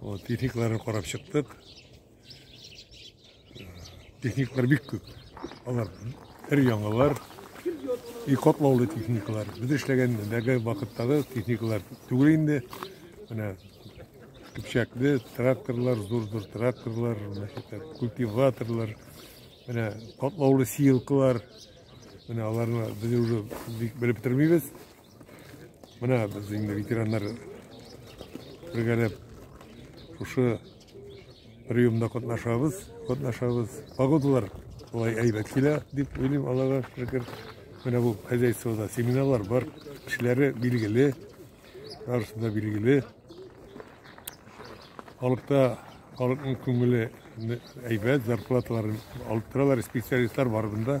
Вот, техникаларын карап чыктык. Техникалар бик күп. Алар һәр яңалар. И котлаулы техникалар. Без эшләгән дәге вакыттагы техникалар түгел инде. Менә көпчәкле тракторлар, зур-зур тракторлар, культиваторлар, менә котлаулы сеялкалар. Менә аларны без уже белеп бетермибез. Менә без инде ветераннар бергәләп шушы приемда катнашабыз, катнашабыз. Погодалар болай әйбәт килә, дип уйлыйм, Аллага шөкер. Менә бу хозяйствода семинарлар бар, кешеләре билгеле, барысы да билгеле. Халыкта халыкның күңеле әйбәт, зарплаталарын алып торалар, специалистлар бар бында.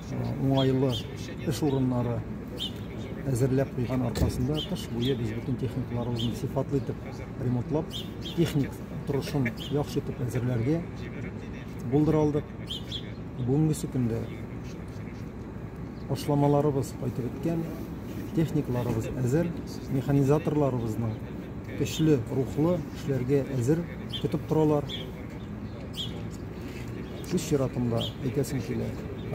уңайлы эш урыннары әзерләп куйган аркасында кыш буе без бөтен техникаларыбызны сыйфатлы итеп ремонтлап техник торышын яхшы итеп әзерләргә булдыра алдык бүгенгесе көндә ашламаларыбыз кайтып беткән техникаларыбыз әзер механизаторларыбызның көчле рухлы эшләргә әзер көтеп торалар Үз чиратымда әйтәсем килә,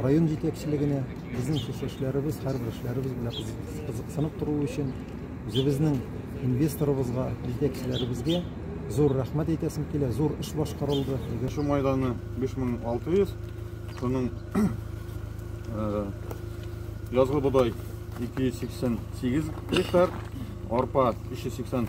район җитәкчелегенә безнең шушы эшләребез, һәрбер эшләребез белән кызык- кызыксынып торуы өчен үзебезнең инвесторыбызга, җитәкчеләребезгә зур рәхмәт әйтәсем килә. Зур эш башкарылды. Егер- Су мәйданы 5600, шуның э, язгы бодай 288 гектар, арпа 380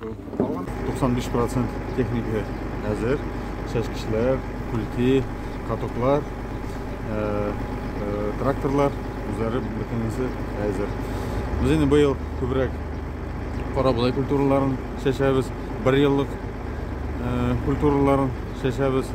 95 процент техника әзер. Чәчкечләр, күлки, катоклар, э, э, тракторлар үзләре бөтенесе әзер. Без инде быел күбрәк кара бодай культураларын чәчәбез, бер еллык э, культураларын чәчәбез.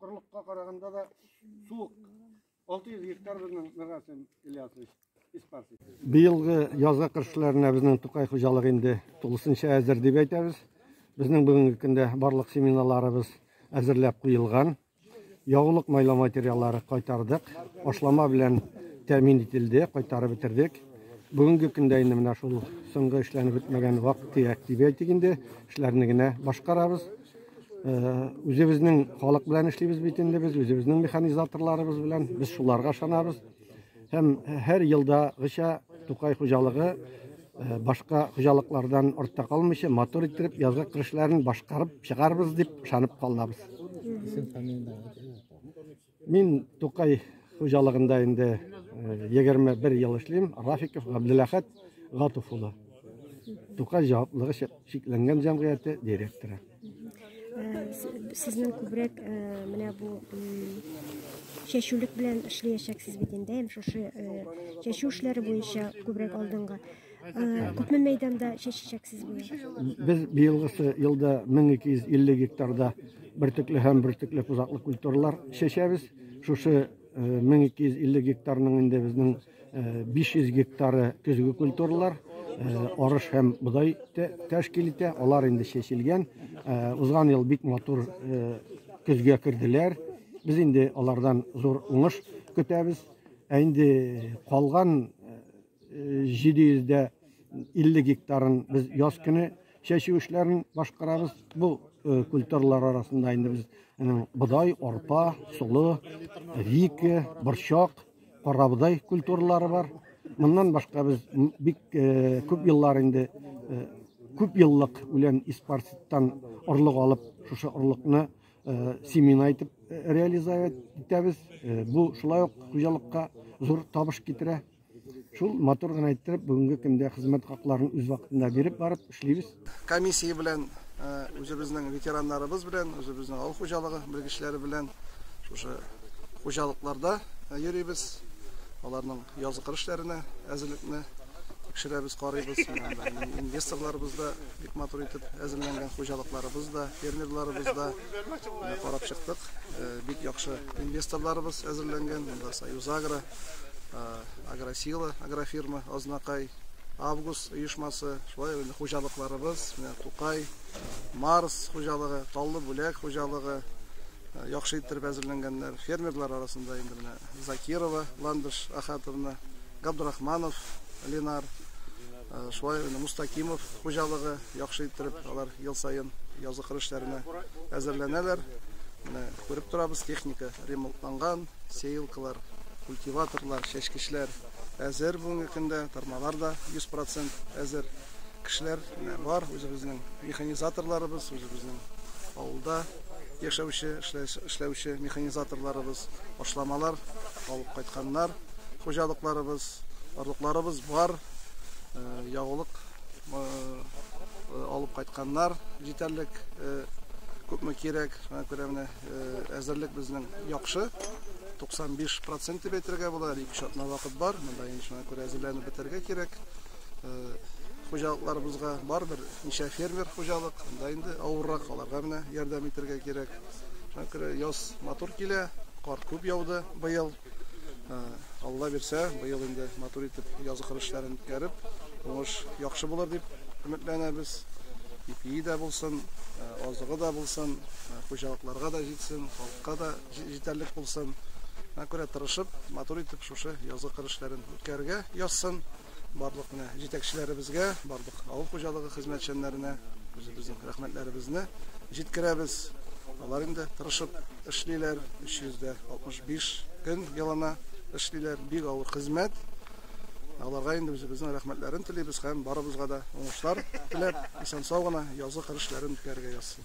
Корылыкка караганда да суык. 600 гектар безнең Миргасин Ильясович испарсыз. Быелгы язгы кыршларына безнең Тукай хуҗалыгы инде тулысынча әзер дип әйтәбез. Безнең бүгенге көндә барлык семинарларыбыз әзерләп куелган. Ягулык майлау материаллары кайтардык. Ашлама белән тәмин ителде, кайтарып бетердек. Бүгенге көндә инде менә шул соңгы эшләнеп бетмәгән вак-төяк дип әйтик инде, эшләрне генә башкарабыз. үзебезнең халык белән эшлибез бит инде без үзебезнең механизаторларыбыз белән без шуларга ышанабыз һәм һәр елдагыча тукай хуҗалыгы башка хуҗалыклардан артта калмыйча матур иттереп язгы кыр эшләрен башкарып чыгарбыз дип ышанып калабыз Мин Тукай хуҗалыгында инде 21 ел эшлим. Рафиков Габделәхәт Гатов улы. Тукай җаваплылыгы чикләнгән җәмгыяте директоры. Сезнең күбрәк менә бу чәчүлек белән эшләячәксез бит инде, шушы чәчү эшләре буенча күбрәк алдынгы. Күпме мәйданда чәчәчәксез була? Без быелгысы елда 1250 гектарда бөртекле һәм бөртекле пузаклы культуралар чәчәбез. Шушы 1250 гектарның инде безнең 500 гектары көзге культуралар, арыш һәм бодай тәшкил итә. Алар инде чәчелгән. Узган ел бик матур көзгә керделәр. Без инде алардан зур уңыш көтәбез. Ә инде калган 750 гектарын без яз көне чәчү эшләрен башкарабыз. Бу культуралар арасында инде без бодай, арпа, солы, вике, борчак, карабодай культуралары бар. Моннан башка без бик күп еллар инде күп еллык үлән испарситтан орлык алып, шушы орлыкны семена итеп реализовать итәбез. Бу шулай ук хуҗалыкка зур табыш китерә. Шул матур гына иттереп, бүгенге көндә хезмәт хакларын үз вакытында биреп барып эшлибез. Комиссия белән үзебезнең ветераннарыбыз белән, үзебезнең авыл хуҗалыгы белгечләре белән шушы хуҗалыкларда йөрибез. Аларның язгы кыр эшләренә әзерлекне тикшерәбез, карыйбыз. Инвесторларыбыз да бик матур итеп әзерләнгән, хуҗалыкларыбыз да, фермерларыбыз да карап чыктык. Бик яхшы инвесторларыбыз әзерләнгән, монда Союзагро, Агросила, агрофирма, Азнакай, Август оешмасы, шулай инде хуҗалыкларыбыз, менә Тукай, Марс хуҗалыгы, Таллы бүләк хуҗалыгы, яхшы иттереп әзерләнгәннәр. Фермерлар арасында инде менә Закирова, Ландыш Ахатовна, Габдрахманов, Ленар, Шулай инде Мустакимов хуҗалыгы яхшы иттереп алар ел саен язгы кыр эшләренә әзерләнәләр. Менә күреп торабыз, техника ремонтланган, сеялкалар, культиваторлар, чәчкечләр әзер бүгенге көндә, тырмалар да 100% әзер. Кешеләр менә бар, үзебезнең механизаторларыбыз, үзебезнең авылда яшәүче, эшләүче механизаторларыбыз, ашламалар алып кайтканнар, хуҗалыкларыбыз, орлыкларыбыз бар. ягулык алып кайтканнар җитәрлек күпме кирәк шуңа күрә менә әзерлек безнең яхшы 95 процент дип әйтергә була әле ике атна вакыт бар монда инде шуңа күрә әзерләнеп бетәргә кирәк хуҗалыкларыбызга барыбер ничә фермер хуҗалык анда инде авыррак аларга менә ярдәм итәргә кирәк шуңа күрә яз матур килә кар күп яуды быел Алла бирсә, быел инде матур итеп язгы кыр эшләрен үткәреп, уңыш яхшы булыр дип өметләнәбез. Ипие дә булсын, азыгы да булсын, хуҗалыкларга да җитсен, халыкка да җитәрлек булсын. Күрә тырышып, матур итеп шушы язгы кыр эшләрен үткәрергә язсын. Барлык менә җитәкчеләребезгә, барлык авыл хуҗалыгы хезмәтчәннәренә үзебезнең рәхмәтләребезне җиткерәбез. Алар инде тырышып эшлиләр, 365 көн елына эшлиләр, бик авыр хезмәт. Аларга инде үзебезнең рәхмәтләрен телибез һәм барыбызга да уңышлар теләп, исән-сау гына язгы кыр эшләрен үткәрергә язсын.